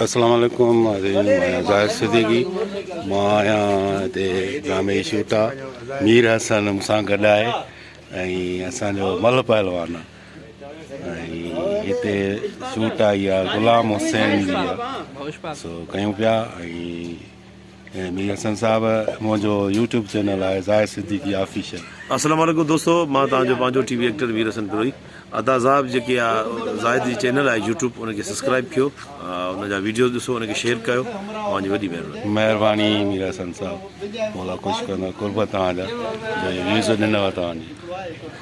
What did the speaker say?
السلام عليڪم ظاهر صديقي مان آهيان هتي گام شوتا مير حسن مون سان گڏ آهي ۽ اسانجو مل پهلوان ۽ هتي شوتا اها غلام حسين جي سو ڪيون پيا ۽ مير حسن صاحب منهنجو يوٽيوب چينل آهي زاهد صديقي آفيشل السلام عليڪم دوستو مان تان جو پانجو TV actor Mir Hasan Parohi ادا صاحب جيڪي آ زاهد جي چينل آهي يوٽيوب ان کي سبسڪرائب کيو ان جا ويڊيو ڏسو ان کي شيئر ڪيو مان جي وڏي مهرباني مهرباني مير حسن صاحب مولا خوش ڪندا قربت تان جا جو ويوز ڏنو تان جي